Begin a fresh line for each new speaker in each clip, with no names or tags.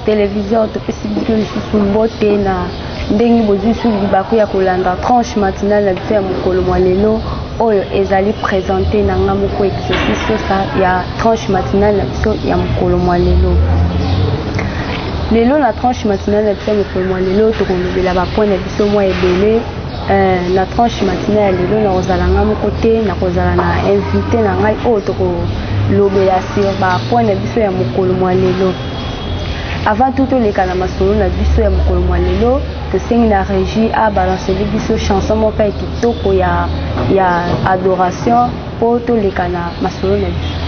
television topesi biso lisusu mbote na ndenge bozwi su libaku ya kolanda tranche matinale na biso ya mokolo mwa lelo oyo ezali présente na nga moko exercice sosa ya tranche matinale na biso ya mokolo mwa lelo lelo na tranche matinale na biso ya mokolo mwa lelo tokolobela bapoint na biso mwa ebele Euh, na tranche matina ya lelo nakozala ngai moko te nakozala na invité na ngai oyo tokolobela sur bapoint na biso ya mokolo mwa lelo Avant tout toleka na masolo na biso ya mokolo mwa lelo tosengi na régie abalanceli biso chanson moko ya kitoko ya, ya adoration mpo toleka na masolo na biso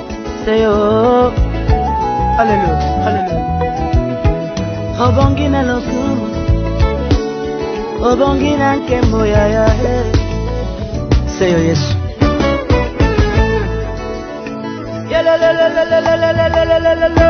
Seyo, hallelujah, hallelujah. Obongi na lokumu, obongi na nkembo ya ya he. Seyo Yesu. Yelelelelelelelelelelelele.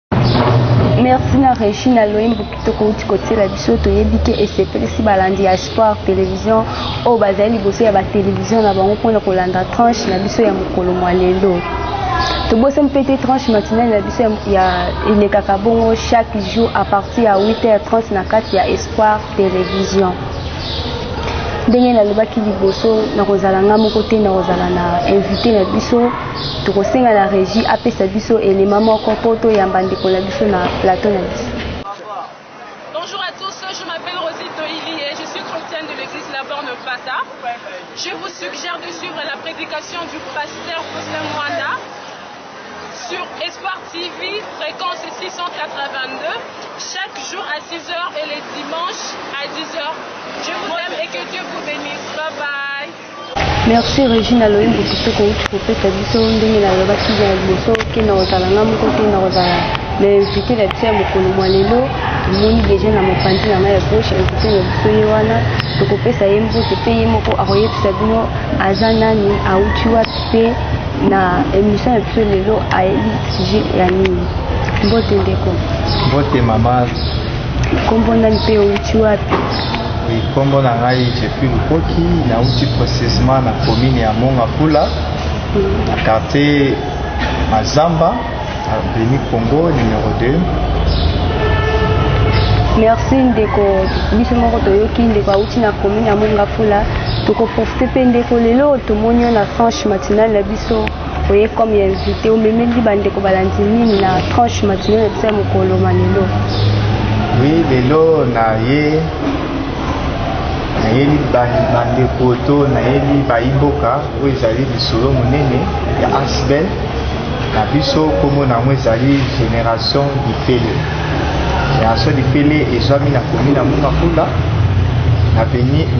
merci na reshi na loyembo kitoko uti kotiela biso toyebi te esepelisi balandi ya sport télévision oyo bazali liboso ya batelevision na bango mpona kolanda tranche na biso ya mokolo mwa lelo tobosani mpe te tranche matinale na biso ya elekaka bongo chaque jour à partir ya 8 heures 30 na kati ya espoir télévision ndenge nalobaki liboso nakozala ngai moko te nakozala na invité na biso Tokosenga na regie apesa biso elema moko mpo toyamba ndeko na biso na plateau na biso.
Bonjour à tous, je m'appelle Rosie Toili et je suis chrétienne de l'église La Borne Pata. Je vous suggère de suivre la prédication du pasteur Faustin Moana sur Espoir TV, fréquence 682, chaque jour à 6h et les dimanches à 10h. Je vous aime et que Dieu vous bénisse. Bye bye. Merci
Regine na loyembo kitoko outi kopesa biso ndenge nalobaki na liboso ke na kozala nga moko te na kozala na invité na biso ya mokolo mwa lelo tomoni deja na mopanzi na ngai ya gauche invité na biso ye wana tokopesa ye mbote mpe ye moko akoyebisa bino aza nani auti wapi mpe na émission ya biso lelo ayebi sujet ya nini mbote ndeko mbote mama
Kombo
na mpe outi wapi? Oui, kombo
na ngai Jeffrey Lukoki, nauti precisement na commune ya Mongafula, na quartier Mazamba, avenue Congo numéro 2.
Merci ndeko, biso moko toyoki ndeko auti na commune ya Mongafula, tokoprofite mpe ndeko lelo tomoni yo na tranche matinale na biso oye comme ya invité omemeli bandeko balandi nini na tranche matinee na biso ya mokolo ma lelo wi
lelo naye nayeli bandeko to nayeli bayimboka oyo ezali lisolo monene ya asbel na biso nkombo na yango ezali génération lifele génération lifele ezwami na komi na mungakula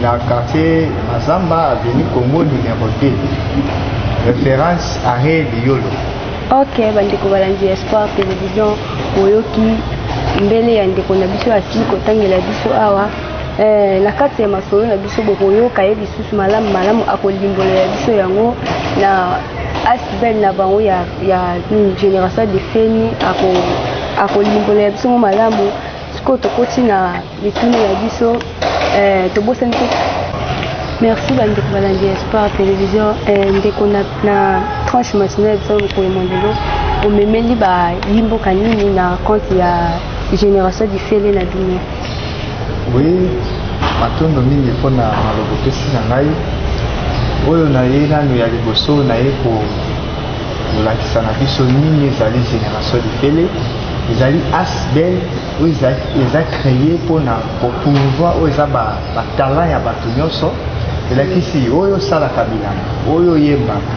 na quartier Mazamba abimi Congo numero 2. Reference arrêt Liyolo. Ok bandeko
balandi ya Espoir Television boyoki mbele ya ndeko na biso asili kotangela biso awa eh, na kati ya masolo na biso bokoyoka ye lisusu malamu malamu akolimbolela biso yango na asbel na bango ya, ya hmm, génération de feni akolimbolela biso ngo malamu sikoyo tokoti na mituna na biso eh, tobosani te merci bandeko balandi ya sport télévision eh, ndeko na, na tranche matinale ya biso mokolo mondelo omemeli bayimboka nini na compte ya génération difele na bino oui
matondo mingi mpo na maloba opesi na ngai oyo naye nano ya liboso naye kolakisa na biso nini ezali génération difele ezali asbel oyo eza cree mpona kopromouvoir oyo eza batalant ya bato nyonso elakisi oyo osalaka bilanga oyo oyembaka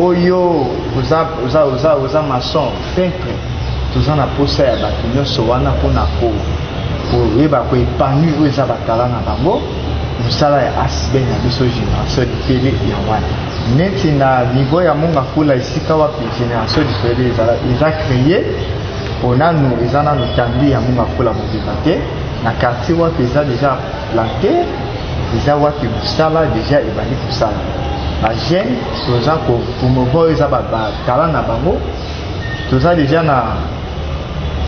oyo oza, oza, oza, oza mason peintre toza na mposa ya bato nyonso wana mpona koyeba koepanui oyo eza batala na bango mosala ya asb na biso génération lifele ya wana neti na niveau ya mongafula esika wapi génération lifele eza cree mpo nanu eza nanu tambi yango makola mobimba te na quartier wapi eza deja plante eza wapi mosala deja ebandi kosala bajeune toza komova oyo eza batala na bango toza deja na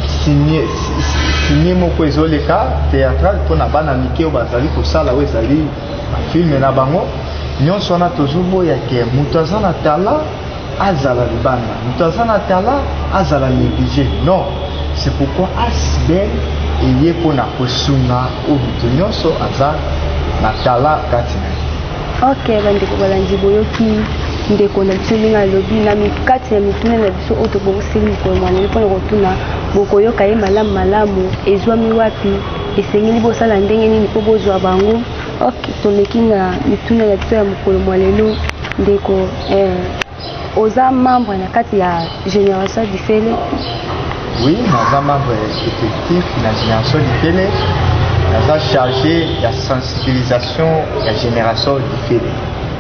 signe moko ezoleka théâtrale mpo na bana mike oyo bazali kosala oyo ezali bafilme na bango nyonso wana tozoboya ke moto aza na tala azala libanda moto aza na tala azala néglige non c'est pourquoi asbel eye mpo na kosunga oyo moto nyonso aza na tala kati na ye ok bandeko balandi
boyoki ndeko na biso ndenge alobi na kati ya mituna na biso oyo tobongiseli mikolo mwaneli mpona kotuna bokoyoka ye malamu malamu ezwami wapi esengeli bosala ndenge nini mpo bozwa bango ok toleki na mituna na biso ya mokolo mwa lelo ndeko Eh, oza membre na kati ya génération difele oui
naza membre effectif na génération difele naza chargé ya sensibilisation ya génération difele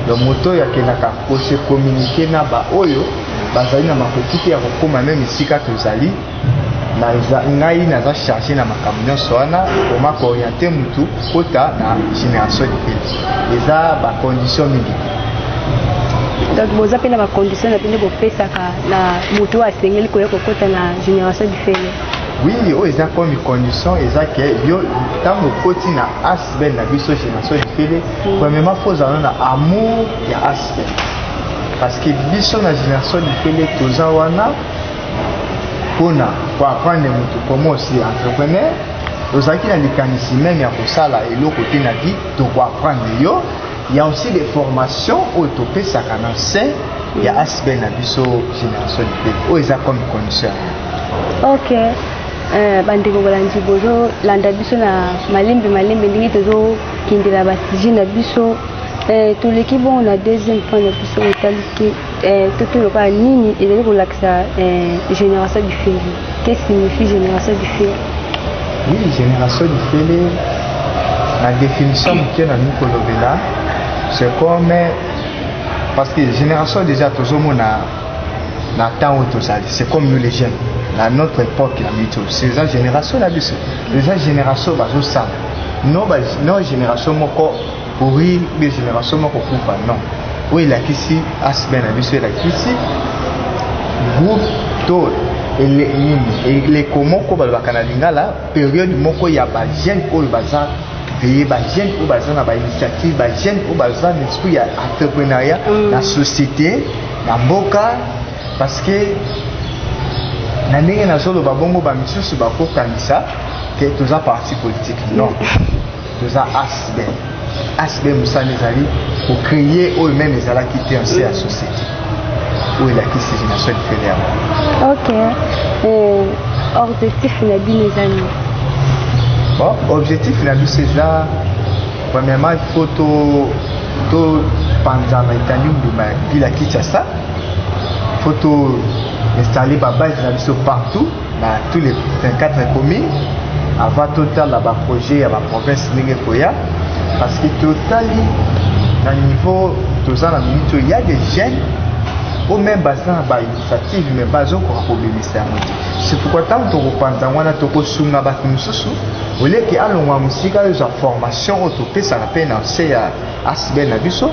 donc moto oyo akendaka kose communiquer na baoyo bazali na makoki te ya kokóma meme esika tozali naza ngai naza charge na makambo nyonso wana koma kooriente motu kota na génération libele eza bacondition mingi
donc boza mpe na bacondition na bino bopesaka na motu oyo asengeli koya kokota na génération lifele oui oyo eza
komi condition eza ke yo ntango okoti na asbel na biso génération lifele mm. premièrement fo ozala na amour ya asbel parce que biso na génération lifele toza wana mpona koaprendre moto koma osi entrepreneur ozalaki na likanisi meme ya kosala eloko te na vie tokoaprendre yo ya aussi des formations oyo topesaka na se ya mm. aspect na biso génération libele oyo eza comme condition ok
eh, bandeko balandi bozolanda biso na malembe malembe ndenge tozokendela basujet na biso eh, toleki bongo na deuxième point na biso otaliki eh, tutu lokola nini ezali kolakisa eh, génération du fele que signifie génération du fele oui
génération du fele na définition moke na lingi kolobela c'est comme parce que génération déjà tozomona na temps oyo tozali c'est comme nous les jeunes na notre époque na biso eza génération na biso eza génération bazosala no, no génération moko Pourri de generation moko kufa non. Oyo elakisi asbe na biso elakisi groupe to ele nini eleko moko balobaka na lingala periode moko ya ba jeune oyo baza veye ba jeune oyo baza na ba initiative ba jeune oyo baza na esprit ya entrepreneuriat mm. na société na mboka parce que na ndenge nazoloba bongo bamisusu bakokanisa ke toza parti politique non toza asb asb mosala ezali kocreye oyo meme ezalaki te nse ya société oyo elakisi génération lifele yango ok eh,
objectif na bino eza nini
bon objectif na biso eza premièrement il faut to topanzana etandi mbuma ya bila kinshasa faut to installe babase na biso partout na tous les 24 communes avant totala baprojet ya baprovince ndenge ekoya parce que totali na niveau toza na minute oyo ya des jeunes oyo meme baza na bainitiative me bazokoka kobimisa yango te c'est pourquoi ntango tokopanza yango wana tokosunga bato mosusu oleke alongwa mosika ezwa formation oyo topesaka mpe na nse ya asbel na biso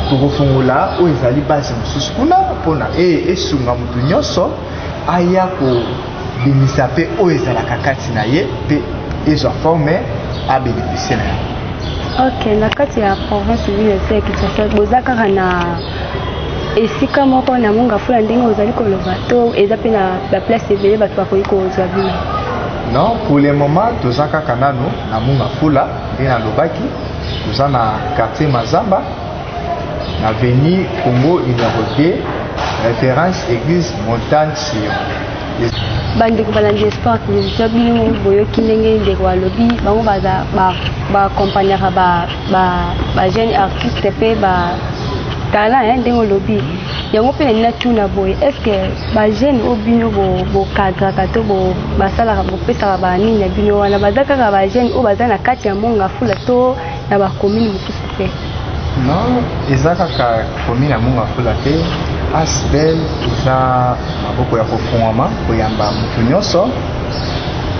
tokofungola oyo ezali base mosusu kuna mpona esunga moto nyonso aya kobimisa mpe oyo ezalaka kati na ye mpe ezwa forme abénéficie na yango
ok na kati ya province ville ese ya kinshasa boza kaka na esika moko na mongafula ndenge ozali koloba to eza mpe na baplace ebele bato bakoki kozwa bino non pour
le moment toza kaka nano na mongafula nde nalobaki toza na quartier mazamba Avenue Congo numéro 2, référence église Montagne Sion. bandeko
balandi ya sport televizio bino boyoki ndenge ndeko alobi bango baza baakompagnaka bajeune artiste mpe ba talent eh, ndenge olobi yango mpe nalingi natuna boye est ce que bajeune oyo bino bokadraka to basalaka bopesaka banini na bino wana baza kaka bajeune oyo baza na kati ya monga fula to na ba commune mosusu te non
eza kaka commune ya mongafula te asbel eza maboko ya kofungwama koyamba moto nyonso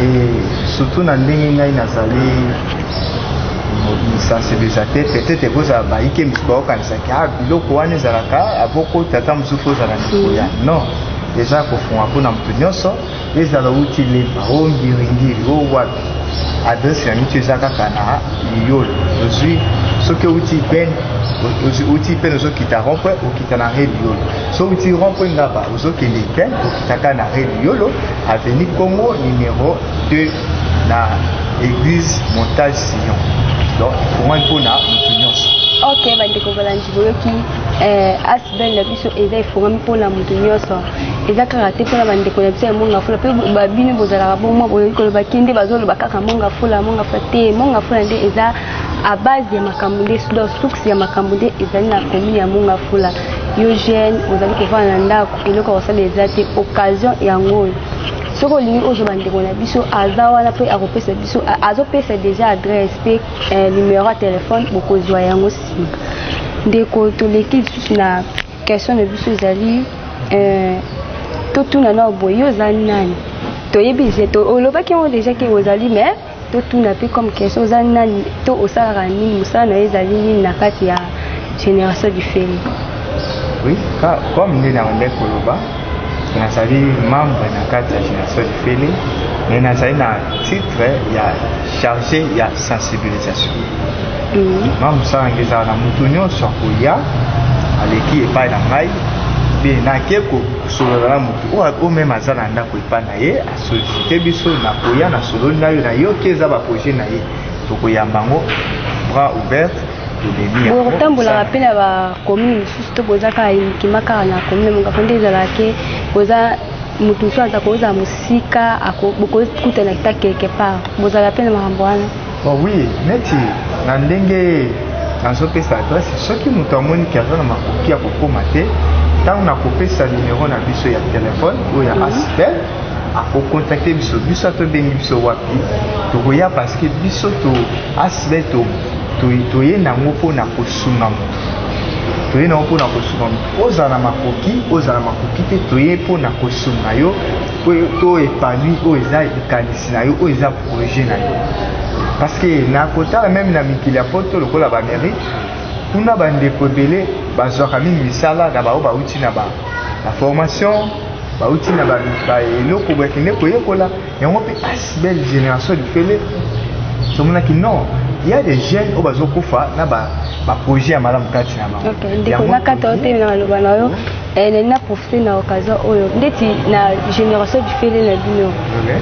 e surtout na ndenge ngai nazali sensibilisateur peut-être ekozala bayike mosusu baokanisaki a ah, biloko wana ezalaka abokota ata mosusu ozala ndeko ya non eza kofunga mpona moto nyonso ezala outi lemba o ngiringiri o wapi adresse ya mitu eza kaka na liyolo ozwi soki outi pene outi pene ozokita rompre okita na re liyolo so outi rompre ngaba ozokende pene okitaka na re liyolo aveni congo numero 2 na église montage sillon donc ekomani mpo na moto nyonso ok bandeko
balangi boyoki eh, belle na biso eza efongami mpona moto nyonso eza kaka te mpona bandeko na biso ya monga fula mpe babino bozalaka bomwa boyoki koloba te nde bazoloba kaka monga fula monga fula te monga fula nde eza a base ya makambo nde donc source ya makambo nde ezali na commune ya monga fula yo jeune ozali kovanda na ndako eloko ya kosala eza te occasion yango oyo soki olingi ozwa bandeko na biso aza wana mpe akopesa biso azopesa déjà adresse mpe eh, numero ya telefone bokozwa yango ndeko toleki lisusu na question na biso ezali euh, totuna nao boye yo oza nani toyebi olobaki yango deja ke ozali mais totuna mpe comme question oza nani to osalaka nini mosala na yo ezali nini na kati ya génération du fele oui
comme nde na bandai koloba nazali membre na kati ya génération lifele me nazali na titre ya chargé ya sensibilisation ma mosala nge ezala na moto nyonso akoya aleki epai na ngai mpe nake kosolola na moto oyo meme aza na ndako epai na ye asolisite biso nakoya nasololi na yo nayoki eza baprojet na ye tokoyamba yango bras ouverte Bo
kotambolaka mpe na ba commune mosusu to boza kaka uniquement kaka na commune Mongafo nde ezalaka ke boza moto mosusu aza kozala mosika bokokutana ta quelque part bozalaka mpe na makambo wana oh oui
neti na ndenge nazopesa adresse soki moto amoni ke aza na makoki ya kokoma te ntango nakopesa numero na biso ya telefone oyo ya mhm. asitel akokontakte biso biso atobengi biso wapi tokoya parceke biso to asitel to toye na yango mpo na kosunga moto toye na yango mpo na kosunga moto ozala na makoki ozala makoki te toye mpo na kosunga yo to epanui oyo eza likanisi na yo oyo eza projet na yo parce que na kotala meme na mikili ya poto lokola baamérique kuna bandeko ebele bazwaka mingi misala na bango bauti na baformation bauti na eloko bakende koyekola yango mpe as belle génération lifele tomonaki non ya des jeunes oyo bazokufa na baprojet ya malamu kati na bango ndeko nakata otemi
na maloba na yo eh, nalingi naprofite na occasion oyo ndeti na génération lifele na bino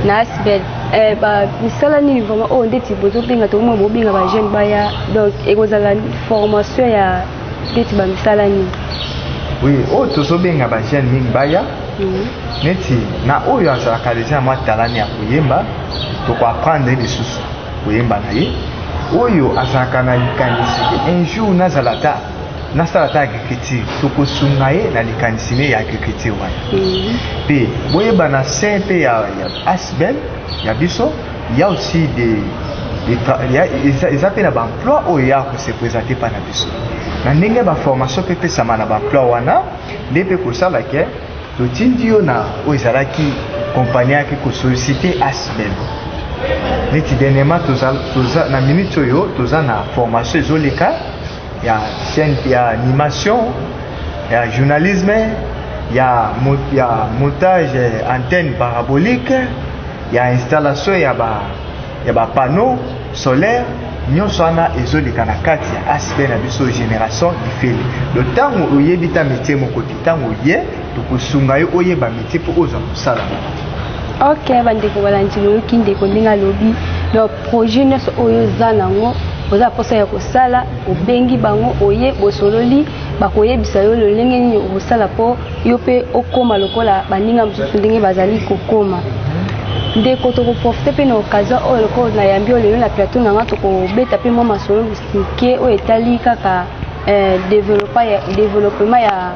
na asbel eh, misala nini vraiment oyo ndeti bozobenga tokomona bobenga bajeune baya donc ekozala formation ya neti bamisala nini oui oyo
oh, tozobenga bajeune mingi baya mhm. neti na oyo azalaka deja na mwa talani ya koyemba tokoapprendre lisusu koyemba na ye oyo azalaka na likanisi un jour nazala ata nasala ata agriculture tokosunga ye na likanisi ne ya agriculture wana mpe mhm. boyeba na se mpe ya asbel ya biso ya aussi de eza mpe na baemploi oyo ya kose présente mpa na biso na ndenge baformation mpe epesama na baemploi wana nde mpe kosala ke totindi yo na oyo ezalaki kompani ayaki kosolicite asbel neti denema toza na minute oyo toza na formation ezoleka ya chaîne ya animation ya journalisme ya, ya montage antenne parabolique ya installation ya ba ya ba panneau solaire nyonso wana ezoleka na kati ya asb na biso génération ifele donc ntango oyebi ta métier moko te ntango oye tokosunga yo oyeba metie mpo ozwa mosala ok
bandeko balandi boyoki ndeko ndenge alobi donc projet nyonso oyo oza nango oza mposa ya kosala obengi bango oye bosololi bakoyebisa yo lolenge nini okosala mpo yo mpe okóma lokola baninga mosusu ndenge bazali kokóma ndeko tokoprofite mpe na occasion oyo lokola nayambi oyo lelo na plateau na nga tokobeta mpe mwa masolo mike oyo etali kaka eh, developpement ya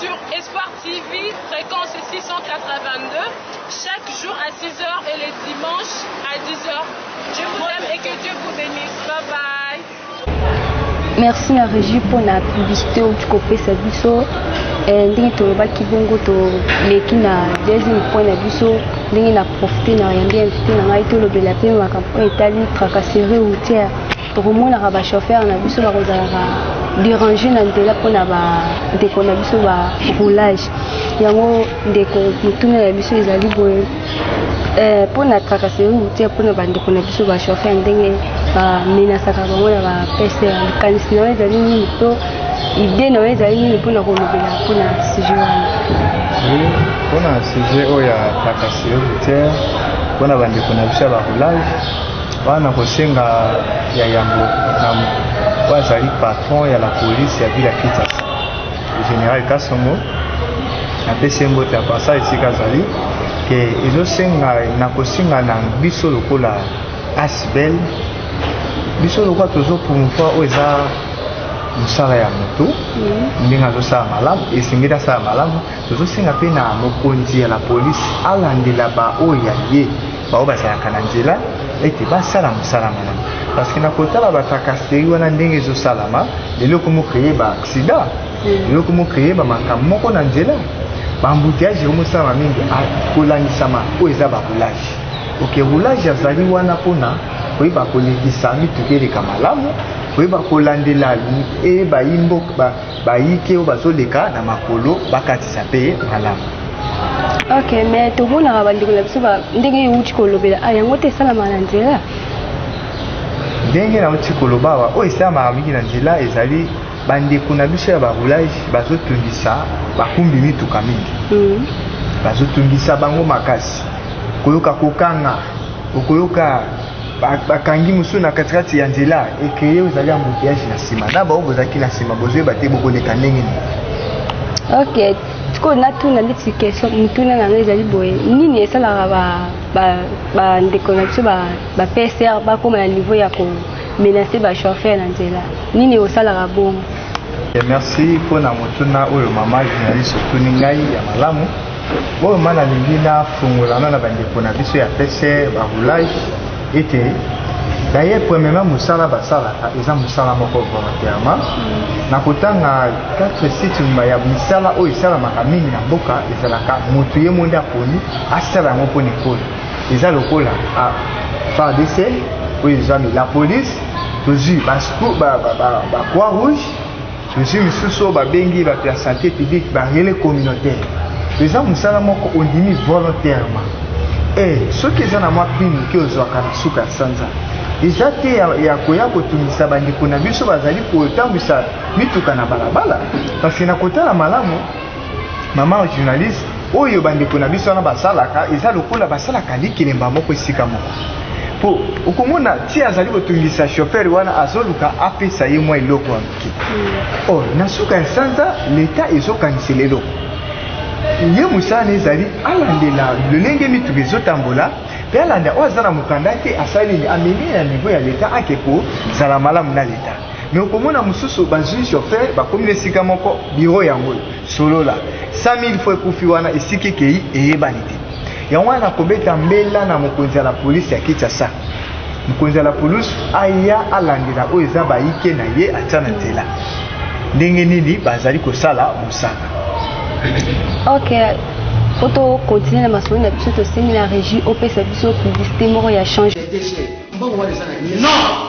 Sur Espoir TV, frequence 682, chaque jour à 6 heures et les dimanches à 10 heures. Je vous aime et que Dieu vous bénisse. Bye bye.
merci na régie mpo na publicité oyo tikopesa biso eh, ndenge tolobaki bongo toleki na deuxième point na biso ndenge na profite na yambi invité na ngai tolobela mpe makambo oyo etali tracasserie routière tokomonaka ba chauffeur na biso bakozalaka derange na nzela mpona ba ndeko na biso ba roulage yango ndeko motuna ya biso ezali boye mpona eh, trakaseri routier mpona bandeko na biso ba chauffeur ndenge bamenasaka bango na ba pester likanisi na yo ezali nini to idee na yo ezali nini mpona kolobela mpona sujet wana
mpona sujet oyo ya trakaseri routier mpona bandeko na biso ya ba roulage Wana nakosenga ya yambo na oyo azali patron ya la police ya ville ya Kinshasa, general Kasongo, napesi ye mbote ya pasa esika azali ke ezosenga nakosenga na biso lokola asbel biso lokola tozo promouvoir oyo eza mosala ya moto ndenge azosala malamu esengeli asala malamu tozosenga mpe na mokonzi ya la polisi alandela baoyo ya ye baoyo bazalaka na nzela ete basala mosala na yango parce que na kotala batrakasteri wana ndenge ezosalama lelo ekomi okreye baaksida lelo ekomi okreye bamakambo moko na nzela bambuteage ekomi osalama mingi ah, kolandisama oyo eza barulage oke roulage azali wana mpona koyeba kolekisa mituka eleka malamu koyeba kolandela eyeba imboka bayike oyo bazoleka na makolo bakatisa mpe malamu ok
mais tomonaka bandeko na biso ndenge euti kolobela a ah, yango te esalamaka na nzela
ndenge nauti koloba awa oyo esalamaka mingi na nzela ezali bandeko na biso ya baroulage bazotungisa bakumbi mituka mingi mm. bazotungisa bango makasi koyoka kokanga okoyoka bakangi mosusu na katikati ya nzela ekreye ozali ambuteyage na nsima na bango bozalaki na nsima bozoyeba te bokoleka ndenge nini ok
sikoyo natuna ndeti question motuna na ngai ezali boye nini esalaka bandeko na biso bapsr bakóma na niveau ya komenace bachauffeur na nzela nini osalaka bongo eh, merci
mpo na motuna oyo mama journaliste otuni ngai ya malamu oyo nga nalingi nafungola na na bandeko na biso ya pcr baroulage ete daye premièrement mosala basalaka eza mosala moko volontairement mm. na kotanga 4 site nyuma ya misala oyo esalamaka mingi na mboka ezalaka moto ye monde aponi asala yango mpo na ekolo eza lokola ah, fardc oyo ezwami la police tozwi bacroix rouge Ozwi lisusu oyo babengi bato ya sante publique ba relais communautaire, eza mosala moko ondimi volontairement e soki eza na mwa prix moke ozwaka na suka ya sanza eza te ya, ya koya kotungisa bandeko na biso bazali kotambwisa mituka na balabala, parce na kotala malamu mama journaliste oyo bandeko na biso wana basalaka eza lokola basalaka likelemba moko esika moko mpo okomona ti azali kotungisa chauffeur wana azoluka apesa ye mwa eloko ya moke mm. or na suka ya sanza leta ezokanisela eloko ye mosala na ezali alandela lolenge mituka ezotambola mpe alanda oyo aza na mokanda te asali nini amemi na niveau ya leta ake kozala malamu na leta me okomona mosusu bazwi chauffeur bakomi na esika moko biro yango oyo solola 100000 fo ekufi wana esika ekei eyebani te yango wana kobeta mbela na mokonzi ya la polisi ya kinshasa mokonzi ya la polisi aya alandela oyo eza bayike na ye atya na nzela ndenge nini bazali kosala mosaka okay. po
tokontinue na masolo na biso tosengi na régie opesa biso publicité moko ya change mbongo wana
eza na non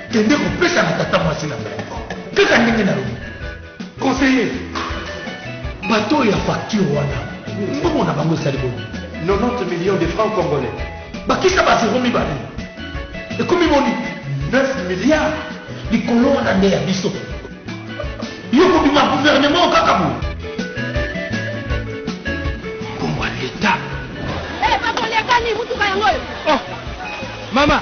Kende kopesa na tata mwasi na ngai kaka ndenge nalobi conseiller bato oyo ya facture wana mbongo na bango esali boni 90 millions
de francs congolais bakisa ba zero
mibale ekomi boni 9 milliards likolo wana nde ya biso yo kobima gouvernement kaka boye mbongo ya leta
eh,
mama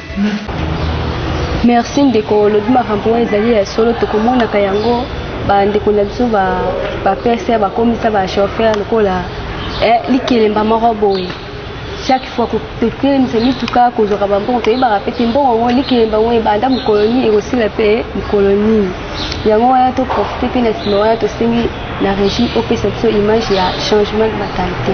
Merci ndeko olobi makambo oyo ezali ya solo tokomonaka yango bandeko na biso bapesa bakomisa bachauffeur lokola eh, likelemba moko boye chaque fois totelemisa mituka kozwaka bambongo toyebaka mpe te mbongo yango likelemba yango ebanda mokolo nini ekosila mpe mokolo nini yango wana toprofite mpe na nsima wana tosengi na régie opesa biso image ya changement de mentalité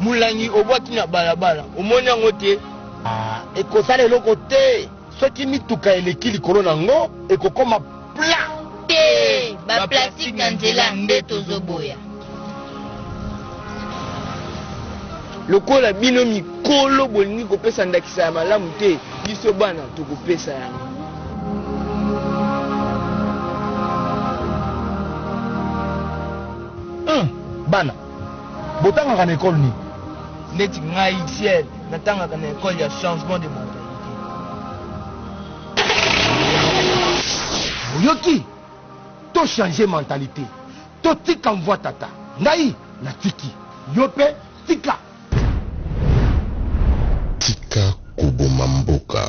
Mulangi
obwaki na balabala omoni yango te? Ah, ekosala eloko te soki mituka eleki likolo na yango ekokoma pla te
ba plastique na nzela nde tozoboya
lokola bino mikolo bolingi kopesa ndakisa ya malamu te biso bana tokopesa yango
hmm, bana Botangaka na ecole nini? Neti
ngai Ciel natangaka na ecole ya changement de mentalite.
Oyoki? To changer mentalite. Totika mvua tata. Ngai natiki. Yo pe tika.
Tika koboma mboka.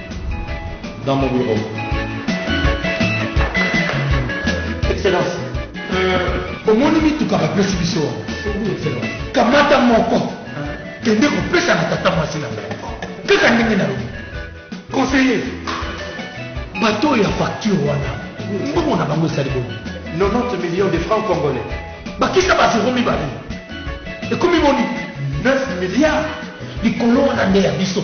dans mon bureau. Excellence. Euh, omoni mituka bapesi biso wana kamata moko kende kopesa na tata mwasi na ngai kaka ndenge nalobi conseiller bato oyo ya facture wana mbongo na bango esali bongo 90 millions de
francs congolais bakisa bazero
mibale ekomi boni 9 milliards likolo wana nde ya biso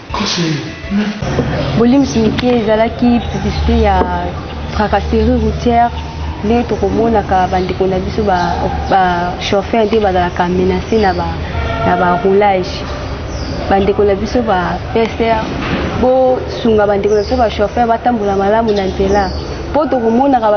Bolimbisi mike ezalaki publicité ya tracasserie routière nde tokomonaka bandeko na biso bachauffeur nde bazalaka menase na baroulage bandeko na biso ba psr bosunga bandeko na biso bachauffeur batambola malamu na nzela mpo tokomonaka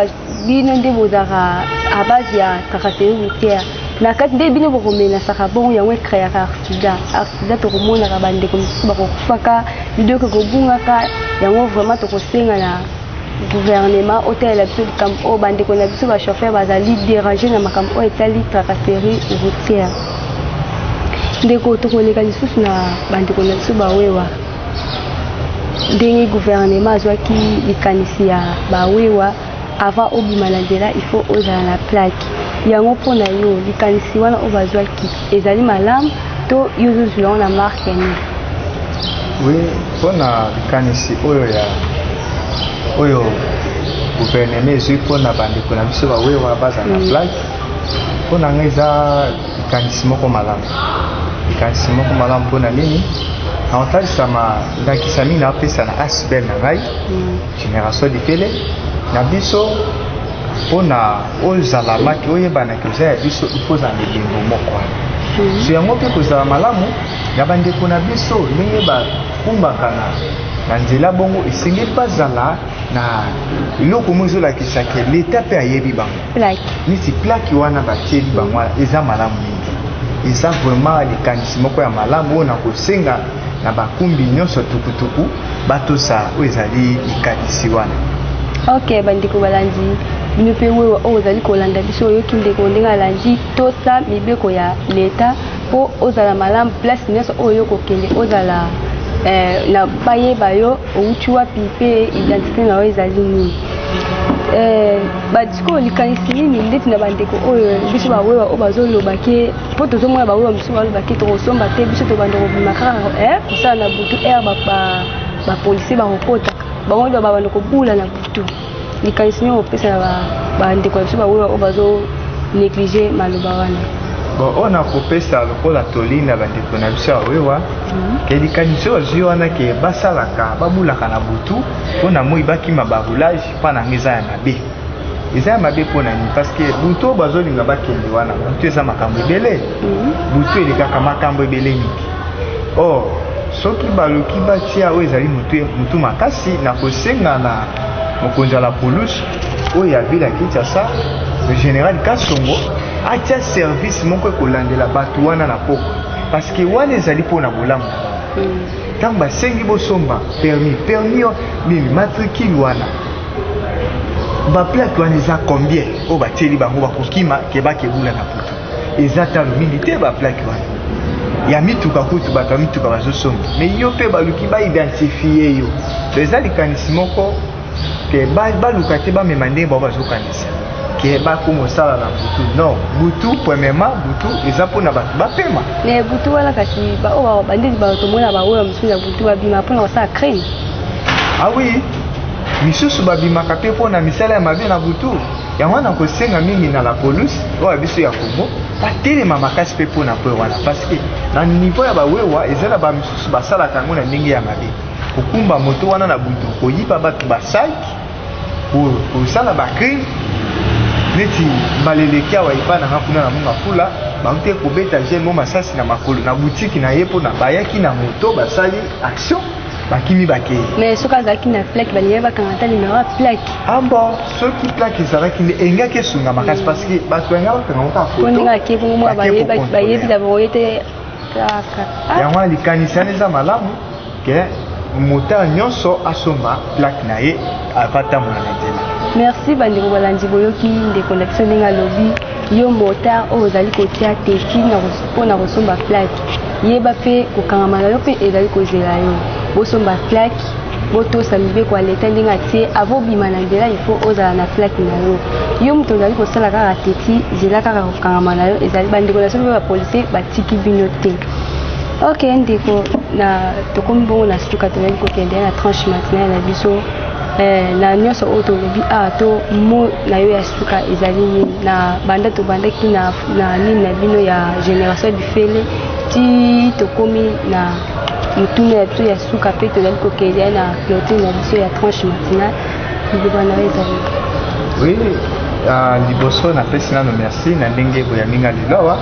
bino nde bozalaka à base ya tracasserie routière na kati nde bino bokomenasaka bongo yango ekreaka arsida arsida tokomonaka bandeko mosusu bakokufaka bidoki kobungaka yango vraiment tokosenga na gouvernement otalela biso likambo oyo bandeko na biso bachauffeur bazali dérange na makambo oyo etali tracasserie routière ndeko tokoleka lisusu na bandeko na biso bawewa ndenge guvernema azwaki likanisi ya bawewa avant obima na nzela il faut ozala na plaque yango mpo na yo likanisi wana oyo bazwaki ezali malamu to yo ozozwila yango na marke ya nini oui
mpo na likanisi oyo ya oyo guvernema ezwi mpo na bandeko na biso bawewa bazala na mm. plaque mpo na ngai eza likanisi moko malamu likanisi moko malamu mpo na nini na kotalisa ndakisa mingi napesa na asbel na ngai mm. génération likele na biso mpo na oyo ozalamaki oyebanaki oza ya biso ifo ozala na elembo moko wana mm. so yango mpe kozala malamu ya bandeko na biso ndenge bakumbaka na na nzela bongo esengeli bazala na eloko moko ezolakisa ke leta mpe ayebi bango plaque neti plaque wana batieli bango wana eza malamu mingi eza vraiment likanisi moko ya malamu oyo nakosenga na bakumbi nyonso tukutuku batosa oyo ezali likanisi wana ok
bandeko balandi bino mpe wewa oyo ozali kolanda biso oyoki ndeko ndenge alandi tosa mibeko ya leta mpo ozala malamu place nyonso oyo yo kokende ozala eh, na bayeba yo owuti wapi mpe identite na yo ezali nini eh, badiscour likanisi nini ndeti na bandeko oyo biso bawewa oyo bazoloba ke mpo tozomona bawewa mosusu baloba ke tokosomba te biso tobanda kobima kaka eh, kosala na butu r bapolisier bakokotaka bango nde babanda kobula na butu likanisi nini okopesa na bandeko na biso baoyo oyo bazo néglige maloba wana bon oyo
nakopesa lokola toli na bandeko na biso ya wewa mhm. ke likanisi oyo azwi wana ke basalaka babulaka na butu mpo na moi bakima baroulage mpo na yango eza ya mabe eza ya mabe mpo na nini parce que butu oyo bazolinga bakende wana butu eza makambo ebele mhm. butu elekaka makambo ebele mingi or oh, Soki baluki batia oyo ezali motu, motu makasi na kosenga na mokonzi ya la police oyo ya ville ya Kinshasa, le general Kasongo atia service moko ekolandela bato wana na poko parce que wana ezali mpo na bolamu na bango. Ntango basengi bosomba permis, permis yo nini matricule wana baplate wana eza combien oyo batieli bango bakokima kebakebula na poto eza talo mingi te ba plaque wana ya mituka kutu bato ya mituka bazosomba me yo mpe baluki baidentifie yo to eza likanisi moko ke baluka te bamema ndenge bango bazokanisa ke bakoma osala na butu non butu premièrement butu eza mpona bato bapema me butu wana
kasi baoyo bandeti bato tomona baoyo mosusu ya butu babima mpona kosala crime awi
ah misusu babimaka mpe mpona misala ya mabe na butu yango wana kosenga mingi na la police oyo biso ya congo batelema makasi mpe mpo na kwe wana parce que na niveau ya bawewa eza na bamisusu basalaka yango na ndenge ya mabe kokumba moto wana na butu koyiba bato basaki kosala bacrime neti mbala eleki awa epa nanga kuna na monga fula baute kobeta jeune mo masasi na makolo na butiki na ye mpona bayaki na moto basali action bakimi bakei mais soki azalaki na
plaque balingai bakanga ata nimero ya plaque ambo ah soki
plaque ezalaki nde engaki esunga makasi parce que bato balingai bakanga ngo kaka foto ndenge akei bongo mwa
bayebi na bango
ye te
kaka
ah. yango wana likanisi wana
eza
malamu
ke
moteur nyonso asomba plaque na ye avatambola na nzela merci bandeko
balandi boyoki ndeko na biso ndenge alobi yo motard oyo ozali kotia tefi mpo na kosomba plaque yeba mpe kokangama na yo mpe ezali kozela yo bosomba plaque botosa mibeko ya leta ndenge atie avobima na nzela ifo ozala na plaque na yo yo moto ozali kosala kaka teti zela kaka kokangama na yo ezali bandeko na soki mpe bapolisi batiki bino te ok ndeko na tokomi bongo na suka tozali kokende na tranche matinale na biso Eh, na nyonso oyo tolobi awa ah, to mo na yo ya suka ezali nini na banda tobandaki na nini na bino ya génération fele ti tokomi na motuna ya biso ya suka mpe tozali kokende na clotine na biso ya tranche matinale liloba na yo ezali oui
uh, liboso napesi nano merci na ndenge boyambi nga lelo awa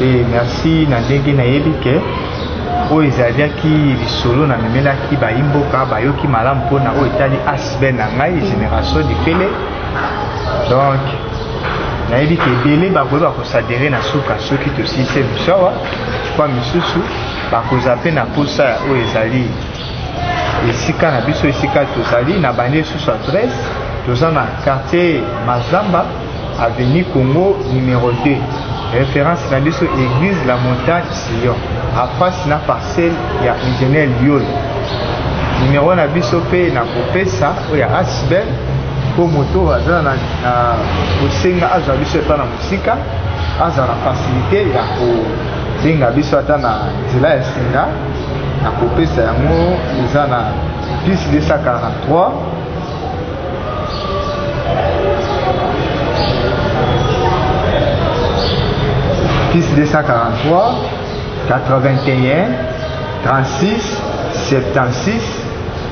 e merci na ndenge nayebi ke oyo ezalaki lisolo na memelaki bayimboka bayoki malamu mpona oyo etali asbel na ngai génération difele donc nayebi ke ebele bakoki bakosadere na suka soki tosilise biso awa kwa misusu bakoza mpe na mposa ya oyo ezali esika na biso esika tozali na bandi lisusu adresse toza na quartier mazamba avenue congo numero 2 référence na biso église la montagne sion afasi na parcelle ya ingénieur liol numero na biso mpe na kopesa oyo ya asbel mpo moto oyo aza na kosenga azwa biso epa na mosika azala na fasilite ya kobenga biso ata na nzela ya singa na kopesa yango eza na plus 243 plus 243 81 36 76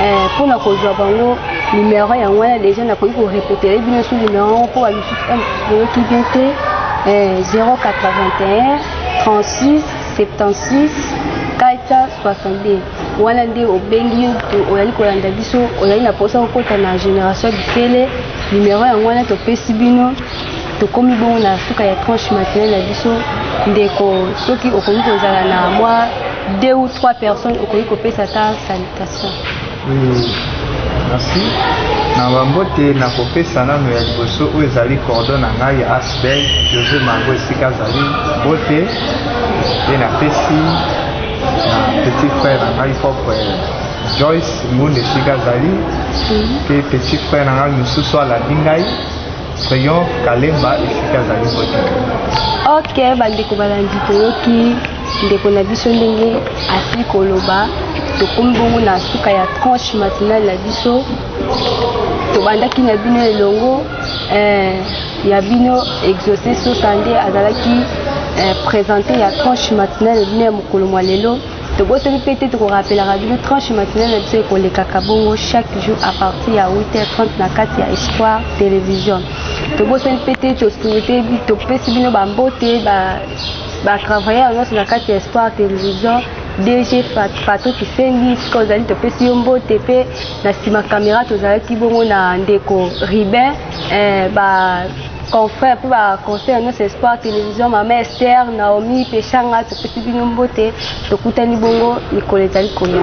Eh, mpo na kozwa bango numero yango wana deja nakoki korepetere bino su numero yango mpo balusuki bien te 081 36 76 462 wana nde obengi yo oyali kolanda biso oyali na mposa kokota na génération bikele numero yango wana topesi bino tokomi bongo na suka ya tranche matinale na biso ndeko soki okoki kozala na mwa deux ou trois personnes okoki kopesa ata salutation hmm,
merci na bambote na kopesa nano ya liboso oyo ezali cordo na ngai ya asbel josé mango esika azali mbote mpe napesi na petit frère na ngai propre joyce mbunda esika azali mpe hmm. petit frère na ngai mosusu alabi ngai Rayon Kalemba esika azali vote. Ok,
bandeko balandi toyoki ndeko na biso ndenge asili koloba tokomi bongo na suka ya tranche matinale na biso tobandaki na bino elongo eh, ya bino exauce sosa nde azalaki eh, présente ya tranche matinale bino ya mokolo mwa lelo tobosani mpe te tokorapelaka bino tranche matinale na biso ekolekaka bongo chaque jour à partir ya 8h30 na kati ya espoir télévision tobosani mpe te tosuete topesi bino bambote batravailleur nyonso na kati ya espoir télévision dg fato kisengi sika ozali topesi yo mbote mpe na nsima camera tozalaki bongo na ndeko ribin eh, confrère mpe baconseil nyonso espoir télévision mama ester naomi peshanga topesi bino mbote tokutani bongo mikolo ezali koya